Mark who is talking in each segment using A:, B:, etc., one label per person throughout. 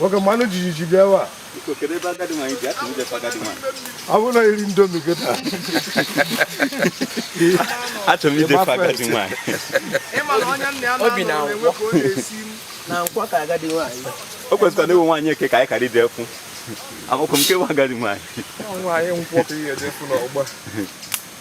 A: nwoke mmanụ jijiji bịa ebe a
B: ọ bụrụ na iri
A: ndomi gị taa
B: achọrọ m idefe agadi nwaanyị obi
C: na nkwọ ka agadi nwaanyị o kwesịkwara na ewe
B: nwaanyị eke ka anyị kara ide fụ amakwụ m kewa agadi nwaanyị nwaanyị nkwọ
A: ka ihe edefu n'ọgba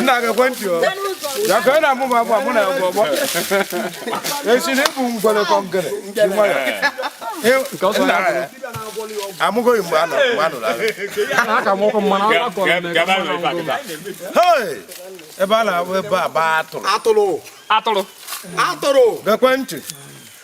A: nna geekwa ntị o ya ka ị na-amụ m agwa mụ na agwa ọgbọ esi na ịbụ ngwere kọngere dị nwayọ amụgoghị mgbe anọ mgbe
C: anụrụ
A: agha ebe a na-abụ ebe a baa atụrụ atụrụ atụrụ geekwa ntị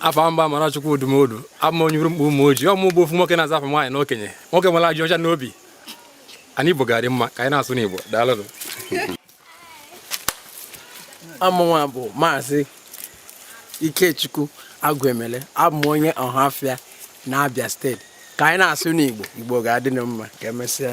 C: afa m bụ amarachukwu odumodu abụ m onye urumkpu ụmụoji ọ mụ bụ ofu nwoke na-aza afọ nwaanyị na okenye nwoke nwere ajọ ọcha n'obi anyị igbo ga-adị mma ka anyị na-asụ n'igbo daalụ
D: amụnwa bụ maazị ikechukwu agwu emele abụ m onye ọhafịa na abịa steeti ka anyị na-asụ n'igbo igbo ga-adị mma ka emesịa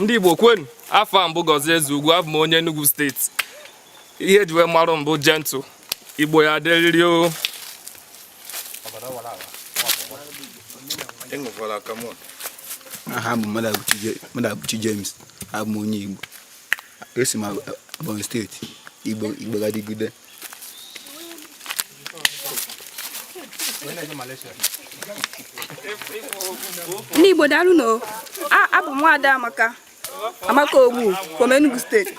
C: ndị Igbo kwenu afa m bụ Gọzie Ezeugwu abụ m onye Enugu steeti ihe e ji wee marụ m bụ gentle Igbo ya adịrịrị o
E: aha m bụ Madụabụchi James abụ m onye Igbo esi m Ebonyi steeti Igbo Igbo ga-adịgide
F: ndị Igbo daalụ nụ abụ m nwaada Amaka Amaka Ogbu from Enugu steeti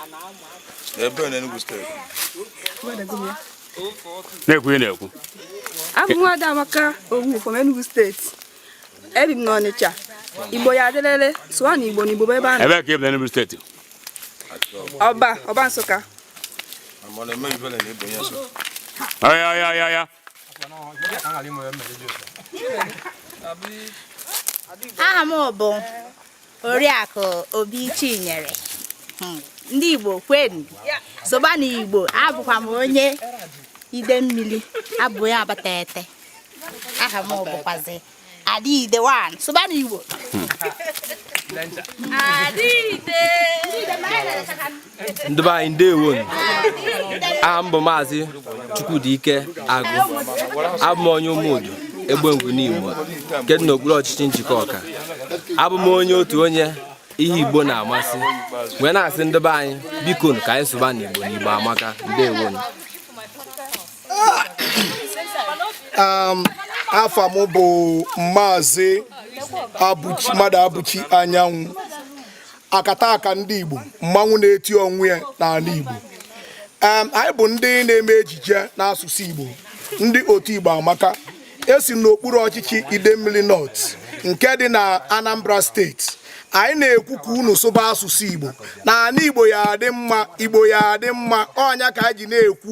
A: ebe na Enugu
B: steeti na-ekwu ị
F: na-ekwu abụ m nwaada Amaka Ogbu from Enugu steeti ebi m n'Ọnịcha Igbo ya adịlele sụwanụ Igbo na Igbo ebe a ebe ka ị bụ Enugu steeti
B: ọba
F: ọba nsụka
B: aya aya aya aya
G: aha m bụ oriakụ obi chinyere hmm, ndị igbo kwenu sụbanụ igbo abụkwa m onye ide mmiri abụ m onye abatete aha m bụkwazi Ada Ide one sụbanụ Igbo
D: Adịide ndị be anyị ndewo aha m bụ maazị Chukwudi Ike Agụ abụ m onye ụmụudu Egbengwu Nimo nke dị n'okpuru ọchịchị Njikọka abụ m onye otu onye ihe Igbo na-amasị wee na-asị ndị be anyị biko ka anyị sụba n'Igbo n'Igbo amaka ndewo
H: um, afa m bụ maazị Mmadụabụchi anyanwụ akataka ndị Igbo mmanwụ na-eti onwe ya n'ala Igbo um, anyị bụ ndị na-eme ejije n'asụsụ Igbo ndị otu Igbo amaka esi n'okpuru ọchịchị Idemmili North nke dị na Anambra steeti anyị na-ekwu ka unu sụba asụsụ Igbo na ana Igbo ya adị mma Igbo ya adị mma ọ nya ka anyị ji na-ekwu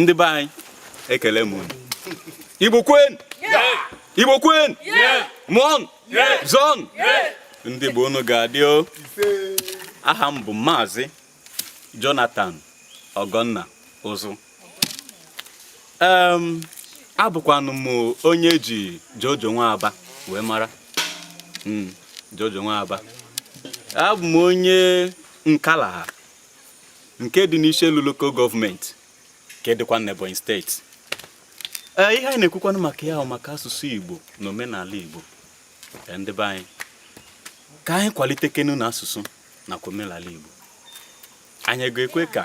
B: ndị be anyị ekele m unu igbo kwenu igbo kwenu mụọnụ zụọnụ ndị igbo unu ga-adị o aha m bụ maazị jonathan ọgọnna ụzụ abụkwanụ m onye e ji jojo nwa aba wee mara hmm, jojo nwa aba abụ m onye nkalaha nke dị n'Ishielu lokal gọọmenti nke dịkwa n'Ebonyi steeti ee ihe anyị na-ekwukwanụ maka ya maka asụsụ Igbo na omenala Igbo ndị be anyị ka anyị kwalitekenu na asụsụ nakwa omenala Igbo anyị ga-ekwe ka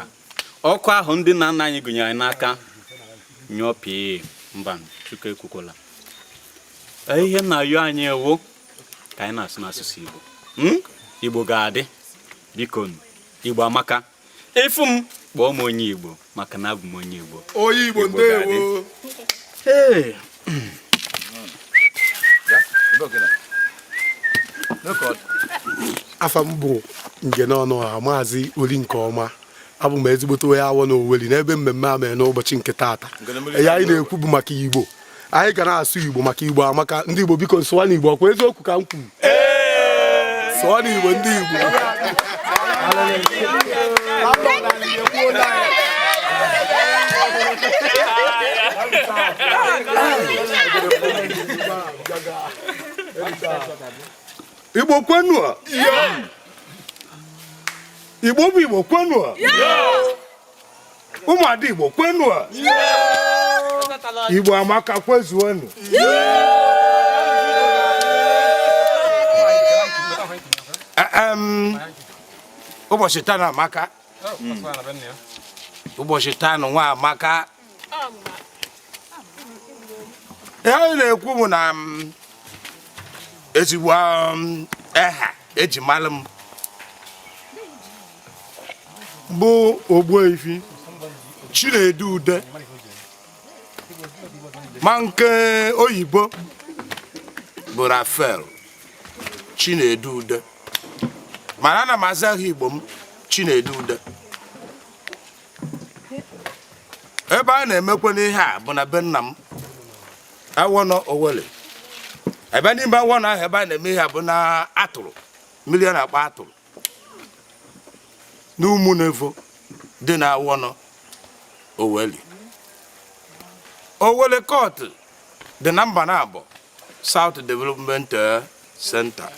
B: ọkụ ahụ ndị nna nna anyị gụnyere anyị n'aka nyụọ pịị mba Chukwu ekwekwala ihe m na-ayọ anyị wụ ka anyị na-asụnụ asụsụ Igbo hmm? Igbo ga-adị biko igbo amaka ị fụ m kpọọ m onye igbo maka na abụ m onye igbo onye igbo
I: ndewo afa m bụ nge n'ọnụ ọha maazị ori nke ọma abụ m ezigbote onye awọ na oweli n'ebe mmemme a mere n'ụbọchị nke taata ihe anyị na-ekwu bụ maka igbo anyị ga na-asụ igbo maka igbo amaka ndị igbo biko sụwanụ igbo ọ kwa eziokwu ka m kwuru sụwanụ igbo ndị igbo igbo
H: kwenu igbo bụ igbo kwenu ụmụada igbo kwenu a igbo amaka kwezuonu ụbọchị taa na amaka ụbọchị taa nụnwa amaka ihe anyị na-ekwu bụ na ezigbo eha e ji malụ m bụ Ogbuefi Chinedu Ude ma nke oyibo bụ Rafael Chinedu Ude mana ana m aza aha Igbo m Chinedu Ude ebe a na-emekwanụ ihe a bụ na be nna m Awọnọ Owelli ebe n'ime Awọnọ ahụ ebe a na-eme ihe a bụ na atụrụ mmiri a na-akpọ atụrụ
A: n'Umunevo dị na Awọnọ Owelli Owelli Court dị na Mbanabọ South Development eh, Center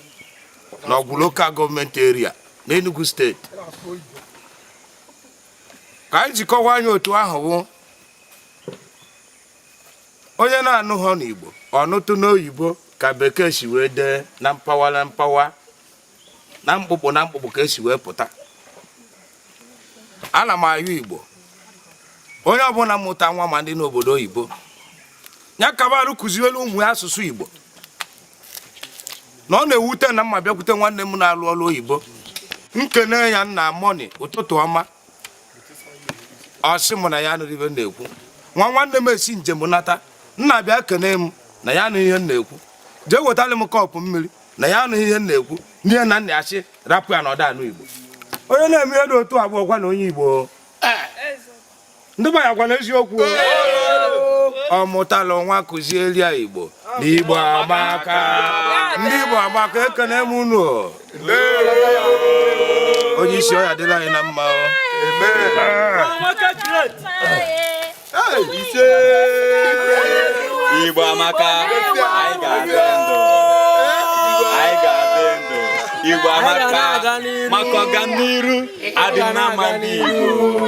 A: n'Ọgwụ local government area n'Enugu steeti ka anyị ji kọwaa ya otu ahụ bụ onye na-anụhụ n'Igbo ọ nụtụ n'oyibo ka bekee si wee dee na mpaghara na mpaghara na mkpụkpụ na mkpụkpụ ka e si wee pụta ana m ayọ Igbo onye ọbụla mụta nwa ma ndị n'obodo oyibo ya kabarụ kụziwelu ụmụ ya asụsụ Igbo na ọ na-ewute na m abịakwute nwanne m na-alụ ọrụ oyibo m kene ya nna morning ụtụtụ ọma ọ sị m na ya anụrọ ihe m na-ekwu nwa nwanne m esi njem nata nna bịa kene m na ya anụrọ ihe m na-ekwu jee wetara m kọpụ mmiri na ya anụrọ ihe m na-ekwu n'ihe na nna ya sị rapụ ya na ọ da anụ Igbo onye na-eme ihe dị otu a bụkwanụ onye Igbo ndị be ya gwa ya eziokwu ọ mụtala nwa kụziere ya igbo na igbo amaka ndị igbo amaka ekene m unu onye isi ọ ya-adịlị anyị na mma
B: igbo amaka anyị ga-adị ndụ anyị ga-adị ndụ igbo amaka maka ọganiru ọdịnma ndị igbo